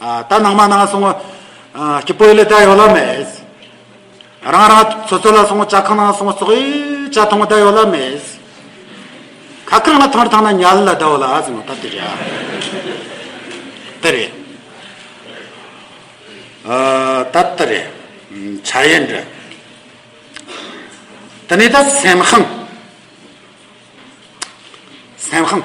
ད་ནང་མ་ནང་སོང་བ་སྐྱིད་པོ་ཡོད་ལ་ད་ཡོད་ལ་མེད། རང་རང་ཚོ་ཚོ་ལ་སོང་བ་ཅག་གང་ནང་སོང་བ་སོགས་ཡོད་ཅག་མཐོང་བ་ད་ཡོད་ལ་མེད། ཁ་ཁར་ང་ཐང་རུ་ཐང་ན་ཉལ་ལ་ད་ཡོད་ལ་ཟེར་ནོ་ད་དེ་རེད། དེ་རེད། ད་དེ་རེད། བྱ་ཡན་རེད། དེ་ནས་ད་སེམས་ཤིང། སེམས་ཤིང།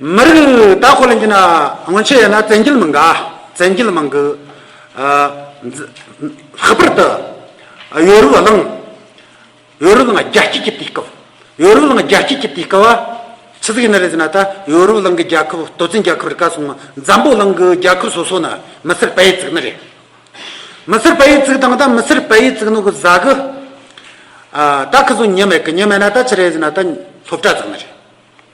མི་རིགས་དག་ཁོ་ལ་འགྱུར་ན་སྔོན་ཆད་ཡོད་ན་བཙན་རྒྱལ་མི་འགའ་བཙན་རྒྱལ་མང་གི་ལྷག་པར་དུ་ཡོ་རུབ་གླིང་ཡོ་རུབ་གླིང་རྒྱལ་སྤྱི་ཀྱི་དུས་སྐབས་ཡོ་རུབ་གླིང་རྒྱལ་སྤྱི་ཀྱི་དུས་སྐབས་ཕྱི་ཚིག་ནི་རེ་ཟིན་ན་ད་ཡོ་རུབ་གླིང་གི་རྒྱལ་ཁབ་ལྟོ་ཙིན་རྒྱལ་ཁབ་རི་ཀ་སོང་འཛམ་བུ་གླིང་གི་རྒྱལ་ཁབ་སོ་སོ་ནི་མི་སེར་པ་ཡི་ཙིག་ནི་རེད། མི་སེར་པ་ཡི་ཙིག་དང་ད་མི་སེར་པ་ཡི་ཙིག་ནི་གི་བཟའ་གི་ད་ཁི་ཟུ་ཉི་མེད་གི་ཉི་མེད་ན་ད་ཕྱི་རེ་ཟིན་ན་ད་སློབ་གྲྭ་ཙིག་ནི་རེད།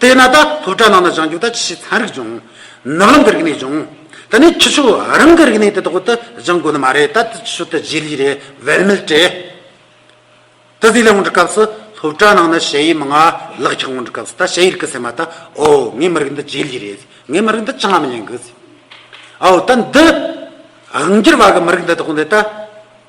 དེས་ན་ད་སློབ་གྲྭ་ནང་ན་སྦྱང་རྒྱུ་དང་ཇི་སྲིད་ཚན་རིག་སྦྱོང། ནག་ལམ་གི་རིག་གནས་སྦྱོང། ད་ནི་ཁྱི་ཕྱུགས་རང་གི་རིག་གནས་དེ་དག་ཏུ་སྦྱང་དགོས་ནི་མ་རེད་ད་ཁྱི་ཕྱུགས་དེ་རྗེས་ལུས་རེད་བེད་མེད་བྲེད་ད་གཟིགས་ལས་དབང་འདྲི་སྐབས་སུ་སློབ་གྲྭ་ནང་ན་གཞས་ཡིག་མི་ང་ལག་འཁྱག་དབང་འདྲི་སྐབས་སུ་ད་གཞས་ཡིག་རྐུ་ཟེར་མ་ད་ཨོ་ངའི་མི་རིགས་འདི་རྗེས་ལུས་རེད་ངའི་མི་རིགས་འདི་ཅང་མ་ཉན་གི་ཟེར་ཨོ་ད་འདི་རང་རྒྱལ་བ་གི་མི་རིགས་འདི་དག་ནི་ད།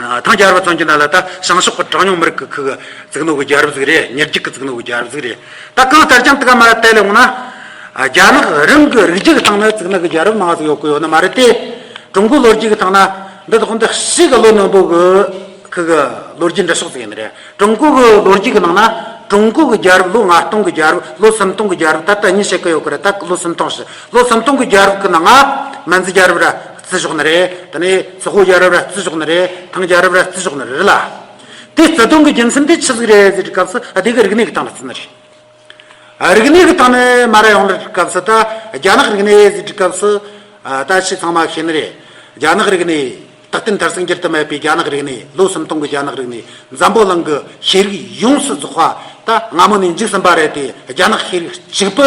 ཐང་རྒྱལ་རབས་ཙམ་གྱི་ནང་ལ་ད་ཤང་ཤོག་པ་གྲངས་ཉུང་མི་རིགས་ཀྱི་ཁུལ་གྱི་རྫིག་ནོར་གྱི་རྒྱལ་རབས་ཟིག་རེད་ཉེར་གཅིག་གི་རྫིག་ནོར་གྱི་རྒྱལ་རབས་ཟིག་རེད། ད་གང་ལྟར་ཀྱང་དེ་ག་མ་རེད་བལྟས་ལེ་འོང་ན། རྒྱ་ནག་རང་གི་རིགས་རྒྱུད་ཀྱི་ཐང་ནས་རྫིག་ནོར་གྱི་རྒྱལ་རབས་མང་བ་ཟིག་ཡོད་ཀྱི་ཡོད་ནི་མ་རེད་དེ། ཀྲུང་གོའི་ལོ་རྒྱུས་ཀྱི་ཐང་ན་འདི་དག་འདི་ཞིག་གི་ལོ་ནོན་པོ་གི་ཁུལ་གྱི་ལོ་རྒྱུས་འབྲི་ཕྱོགས་ཟིག་ཡིན་ནི་རེད། ཀྲུང་གོ་གི་ལོ་རྒྱུས་ཀྱི་ནང་ན་ཀྲུང་གོ་གི་རྒྱལ་རབས་ལོ་ལྔ་སྟོང་གི་རྒྱལ་རབས་ལོ་སུམ་སྟོང་གི་རྒྱལ་རབས་ད་ལྟ་གཉིས་བཤད་ཀྱི་ཡོད་ཀྱི་རེད་ད་ལོ་སུམ་སྟོང་ཞེས་ལོ་སུམ་སྟོང་གི་རྒྱལ་རབས་ཀྱི་ནང་ང་མན་ཛི་རྒྱལ་རབས་ར་བརྩི་ཆོག་ནི་རེད། དེ་ནས་ཟོག་གོ་ཡ་རབས་ར་བརྩི་ཆོག་ནི་རེད། ཐང་ཡ་རབས་ར་བརྩི་ཆོག་ནི་རེད་ལ། དེ་བརྩི་དོན་གི་རྒྱུ་མཚན་དེ་ཆི་ཟིག་རེད་ཟེར་བའི་སྐབས་སུ་ཨ་དེ་གི་རིག་གནས་ཀྱི་སྟེང་ལ་བརྩི་ནི་རེད། རིག་གནས་ཀྱི་སྟེང་ནས་མ་ར་ཡོང་ལ་བསྒྲིགས་སྐབས་སུ་ད་རྒྱ་ནག་རིག་གནས་ཟེར་བསྒྲིགས་སྐབས་སུ། ད་ཆི་ཚང་མ་ཤེས་ནི་རེད། རྒྱ་ནག་རིག་གནས། ད་ལྟའི་མཐར་སངས་རྒྱས་དུ་མེད་པའི་རྒྱ་ནག་རིག་གནས་ལོ་སུམ་སྟོང་གི་རྒྱ་ནག་རིག་གནས་འཛམ་བུ་གླིང་གི་ཤེས་རིག་ཡོངས་སུ་རྫོགས་པ་ད་སྔ་མོ་ནས་འཇིག་ཟིན་པ་རེད་དེ་རྒྱ་ནག་ཤེས་རིག་གཅིག་པུ་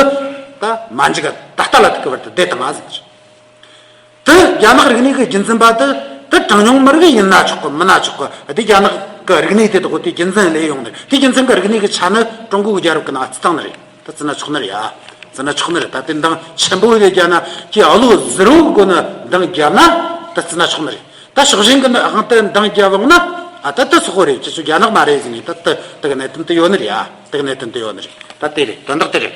ད་མ་འཇིག་ད་ལྟ་ལ་ཐུག་གི་བར་དུ་བསྡད་དུ་མ་ཟིན་ནི་རེད། དེ་རྒྱ་ནག་རིག་གནས་ཀྱི་རྒྱུན་འཛིན་པ་དེ་དེ་གྲངས་ཉུང་མི་རིགས་ཡིན་ན་ཆོག་གི་མིན་ན་ཆོག་གི་དེ་རྒྱ་ནག་གི་རིག་གནས་དེ་དག་གི་དེའི་རྒྱུན་འཛིན་ལས་ཡོང་ནི་དེའི་རྒྱུན་འཛིན་གྱི་རིག་གནས་ཀྱི་ཆ་ནི་ཀྲུང་གོ་གི་རྒྱལ་རབས་ཀྱི་ནང་བརྩི་སྟངས་ནི་རེད་དེ་བརྩི་ན་ཆོག་ནི་རེད་ཨ་བརྩི་ན་ཆོག་ནི་རེད་ད་དེ་འདང་ཆེན་པོ་ཡོད་རྒྱ་ནག་གིས་ཨོ་ལོ་ཟི་རོ་གི་སྒོ་ནས་འདང་བརྒྱབ་ན་དེ་བརྩི་ན་ཆོག་ནི་རེད་ད་ཕྱོགས་ཞེན་གྱི་དབང་དུ་འདང་བརྒྱབ་ལོང་ན་ཨ་དེ་དེ་སོག་པོ་རེད་ཁྱེད་ཚོ་རྒྱ་ནག་མ་རེད་ཟེར་ནས་ད་དེ་དེ་གི་གནད་དོན་དེ་ཡོད་ནི་རེད་ཨ་དེ་གི་གནད་དོན་དེ་ཡོད་ནི་རེད་ད་དེ་རེད་དོན་དག་དེ་རེད།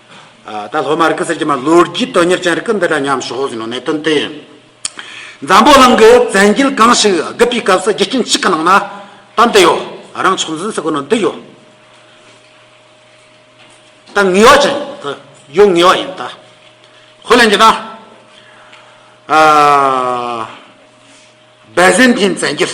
ད་སློབ་མ་རིག་གསར་གྱི་མ་ལོ་རྒྱུས་དོན་གཉེར་ཅན་རིག་འདི་འདྲ་ཉམས་ཞོག་ཟེར་ནོ་གནད་དོན་དེ་ཡིན། འཛམ་བུ་གླིང་གི་བཙན་རྒྱལ་གང་ཞིག་རྒུད་པའི་སྐབས་སུ་རྒྱུ་རྐྱེན་གཅིག་གི་ནང་ན་དོན་འདི་ཡོད་རང་ཕྱོགས་འཛིན་སའི་སྒོ་ནས་འདི་ཡོད་ད་ངེས་བ་ཅན་དུ་ཡོད་ངེས་བ་ཡིན་ད་ཧོ་ལན་གྱི་ན་བེ་ཟན་ཐིན་བཙན་རྒྱལ།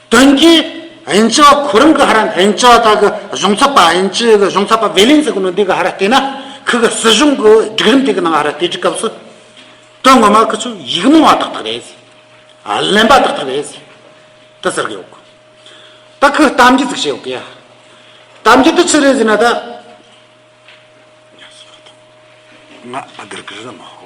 དོན་རྐྱེན་ཨིན་ཅི་བ་ཁོ་རང་གི་ཧ་ར་ཨིན་ཅི་བ་དག་གི་གཞུང་ཚབ་པ་ཨིན་ཅི་གི་གཞུང་ཚབ་པ་བྷེ་ལིན་ཟི་གོ་ནོ་འདི་གི་ཧ་ར་བལྟས་ན་ཁི་གི་སྲིད་གཞུང་གི་སྒྲིག་རིམ་དེ་གི་ནང་ཧ་ར་བལྟས་དྲི་སྐབས་སུ། དོན་ངོ་མ་ཁི་ཆུ་ཡིག་རྨོངས་བ་དག་དག་རེད་ཟེ། གླེན་པ་དག་དག་རེད་ཟེ། ད་ཟེར་གི་ཡོད་གོ། ད་ཁི་གཏམ་རྒྱུད་ཟིག་བཤད་ཡོད་གི་ཡ། གཏམ་རྒྱུད་དེ་ཆི་རེད་ཟེ་ན་ད། ང་ཨ་གིར་གིར་ཟ་མ་ཧོ།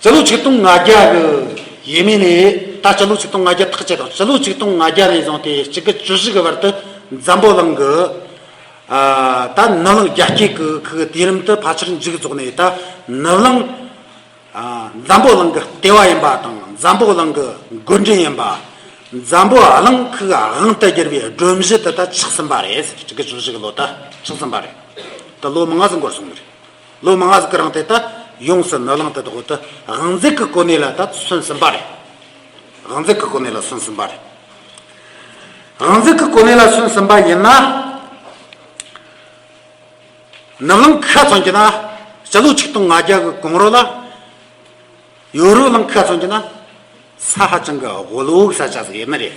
སྤྱི་ལོ་ཆིག་སྟོང་ང་བརྒྱ་དགུ། ཡས་མས་ནས་ད་སྤྱི་ལོ་ཆིག་སྟོང་ང་བརྒྱ་ཐག་བཅད་དང་སྤྱི་ལོ་ཆིག་སྟོང་ང་བརྒྱ་ནས་བཟུང་སྟེ་གཅིག་གི་ཅུ་བཞི་གི་བར་དུ་འཛམ་བུ་གླིང་གི། ད་ནུབ་གླིང་རྒྱ་སྐྱེགས་ཀྱི་ཁུག་དུས་རིམ་དུ་ཕལ་ཆེར་མཇུག་རྫོགས་ནས་ད་ནུབ་གླིང། འཛམ་བུ་གླིང་གི་ལྟེ་བ་ཡིན་པ་དང་འཛམ་བུ་གླིང་གི་མགོ་འདྲེན་ཡིན་པ། འཛམ་བུ་གླིང་ཁུག་དབང་དུ་བསྒྱུར་བའི་སྒྲོམ་གཞི་དེ་ད་ཆགས་ཟིན་པ་རེད་གཅིག་གི་ཅུ་བཞི་གི་ལོ་ད་ཆགས་ཟིན་པ་རེད། ད་ལོ་མང་ཙམ་འགོར་སོང་གི་རེད། ལོ་མང་ཟིག་གི་རིང་དེ་ལྟར་ཡོངས་སུ་ནོར་ལང་དུ་བདག་བོད་དུ་དབང་འཛིན་གྱི་གོ་གནས་ལ་ད་སོན་ཟིན་པ་རེད། དབང་འཛིན་གྱི་གོ་གནས་ལ་སོན་ཟིན་པ་རེད། དབང་འཛིན་གྱི་གོ་གནས་ལ་སོན་ཟིན་པ་ཡིན་ན། ནོར་ལང་ཁ་ཚོན་གྱི་ན་སྤྱི་ལོ་ཆིག་སྟོང་ང་བརྒྱ་གི་གོང་རོ་ལ། ཡོ་རོ་ལང་ཁ་ཚོན་གྱི་ན་ས་ཧ་ཅང་གི་དབུལ་བོའི་ས་ཆ་ཟིག་ཡིན་ནི་རེད།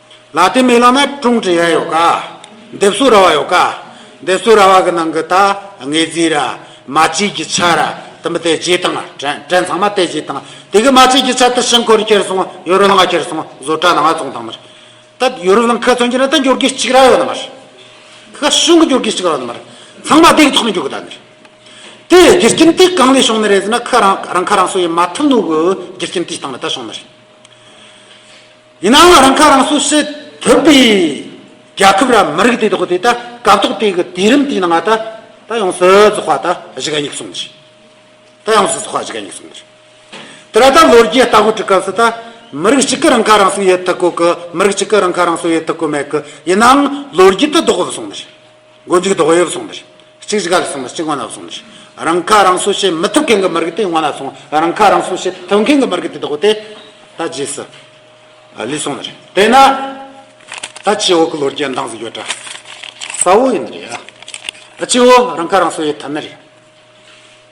ལ་དེ་མེ་ལ་ན་ཀྲུང་ཀྲི་ཡ་ཡོ་ག། འདེབས་སུ་ར་བ་ཡོ་ག། འདེབས་སུ་ར་བ་གི་ནང་གི་ད་ངེ་ཛི་ར། མ་གཅིག་གི་ཆ་ར་དི་མི་ཏེ་རྗེས་དང་དྲན་དྲན་ཚང་མ་ཏེ་རྗེས་དང་དེ་གི་མ་གཅིག་གི་ཆ་ཏི་ཤིང་འཁོར་ཁྱེར་སོང་ཡོ་རུ་ལང་ཁྱེར་སོང་བཟོ་གྲ་ན་ང་ཙོང་དང་མར། ད་ཡོ་རུ་ལང་ཁ་ཚོན་གྱི་ན་ད་འགྱུར་གི་གཅིག་ར་ཡོ་ན་མར། ཁ་ཤུང་གི་འགྱུར་གི་གཅིག་ར་ཡོ་ན་མར། ཚང་མ་དེ་གི་ཐོག་ནས་འགྱུར་གི་ད་ནི། དེ་རྒྱུ་རྐྱེན་དེ་གང་ནས་བྱུང་ནི་རེད་ཟེར་ན་ཁ་རང་རང་ཁ་རང་སོ་ཡི་མ་ཐུབ་ནོ་གི་རྒྱུ་རྐྱེན་དེ་ལྟང་ན་ད་བྱུང་ནི་རེད། ཡིན་ནའང་རང་ཁ་རང་གསོ་བྱེད་ཐུབ་པའི་རྒྱལ་ཁབ་ར་མི་རིགས་དེ་དག་གིས་ད་སྐབས་ཐོག་དེ་གའི་དུས་རིམ་དེའི་ནང་ད་ཡོང་སི་རྫོགས་པ་ད་གཞི་ག་ཉིག་སོང་གི་ད་ཡོང་སི་རྫོགས་པ་གཞི་ག་ཉིག་སོང་གི་དེ་ར་ད་ལོ་རྒྱས་ལྟ་གོ་དྲི་སྐབས་སུ་ད་མི་རིགས་གཅིག་གི་རང་ཁ་རང་གསོ་ཡོད་ཐུག་གོ་གི་མི་རིགས་གཅིག་གི་རང་ཁ་རང་གསོ་ཡོད་ཐུག་གོ་མེད་གི་ཡིན་ནའང་ལོ་རྒྱས་དུ་ལྡོག་གི་སོང་གི་རེད། མགོ་མཇུག་དོག་གཡོག་སོང་མེད། གཅིག་གཞི་ག་ལ་སོང་མེད་གཅིག་དབང་ལ་སོང་མེད། རང་ཁ་རང་གསོ་བྱེད་མི་ཐུབ་མཁན་གྱི་མི་རིགས་དེ་དབང་ལ་སོང་རང་ཁ་རང་གསོ་བྱེད་ཐུབ་མཁན་གྱི་མི་རིགས་དེ་དོག་དེ་ད་རྗེས་སུ་ལུས་སོང་མེད། དེས་ན། ད་ཅི་འོག་གི་ལོ་རྒྱས་འདང་ཟིག་ཡོད་དྲ། ས་འོག་ཡིན་ནི་རེད། ཨ་ཅི་འོག་རང་ཁ་རང་གསོ་ཡོད་ཐབས་མེད་རེད།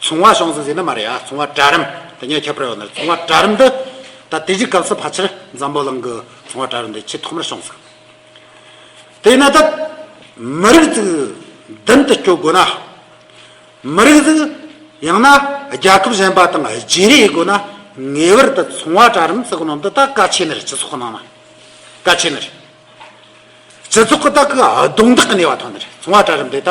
ཚོང་བ་ཤོང་ཟིན་ཟེར་ན་མ་རེད་ཨ་ཚོང་བ་གྲལ་རིམ་དེ་ཉེ་ཁྱབ་རེད་བ་ན་ཚོང་བ་གྲལ་རིམ་འདི་ད་དེ་གཞི་གབ་ས་ཕ་ཆེར་འཛམ་བུ་གླིང་གི་ཚོང་བ་གྲལ་རིམ་འདི་ཆེས་ཐོག་མར་ཤོང་ས་དེ་ན་ད་མི་རིགས་ཚིག་མདུན་དུ་སྐྱོད་དགོས་ན་མི་རིགས་ཚིག་ཡང་ན་རྒྱལ་ཁབ་གཞན་པ་དང་བརྗེ་རེས་དགོས་ན་ངེས་བར་དུ་ཚོང་བ་གྲལ་རིམ་ཚིག་ནང་དུ་ད་ཀ་ཆེ་ནི་རེད་སྤྱི་ཚོགས་ནང་ན་ཀ་ཆེ་ནི་རེད་སྤྱི་ཚོགས་ཀྱི་ད་ཀ་རྡུང་རྡེག་གི་ནུས་བ་ཐོན་ནི་རེད་ཚོང་བ་གྲལ་རིམ་འདི་ད།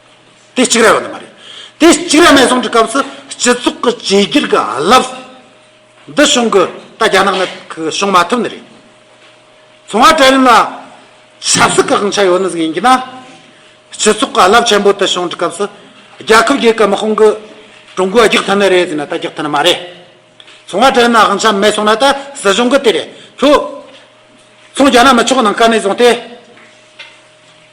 དེ་གཅིག་རེད་བ་ནི་མ་རེད། དེ་གཅིག་རེད་མེད་གསུང་གི་སྐབས་སུ་སྤྱི་ཚོགས་ཀྱི་བྱེས་རྒྱུད་ཀྱི་རླབས་འདི་བྱུང་གི་ད་རྒྱ་ནག་ནི་བྱུང་མ་ཐུབ་ནི་རེད། ཚོང་བ་གྲལ་རིམ་ལ་ཆབ་སྲིད་ཀྱི་དབང་ཆ་ཡོད་ནི་ཟིག་ཡིན་གྱི་ན། སྤྱི་ཚོགས་ཀྱི་རླབས་ཆེན་པོ་དེ་བྱུང་གི་སྐབས་སུ་རྒྱལ་ཁབ་རྒྱས་ཀྱི་དམག་དཔུང་གིས་ཀྲུང་གོ་རྒྱག་ཐུབ་ནི་རེད་ཟེར་ན་ད་རྒྱག་ཐུབ་ནི་མ་རེད། ཚོང་བ་གྲལ་རིམ་ལ་དབང་ཆ་མེད་གསུང་ན་ད་སྲིད་གཞུང་གིས་དེ་རེད་ཐུག། ཚོང་རྒྱག་ན་མི་ཆོག་ནང་དཀར་ནས་བཟུང་སྟེ།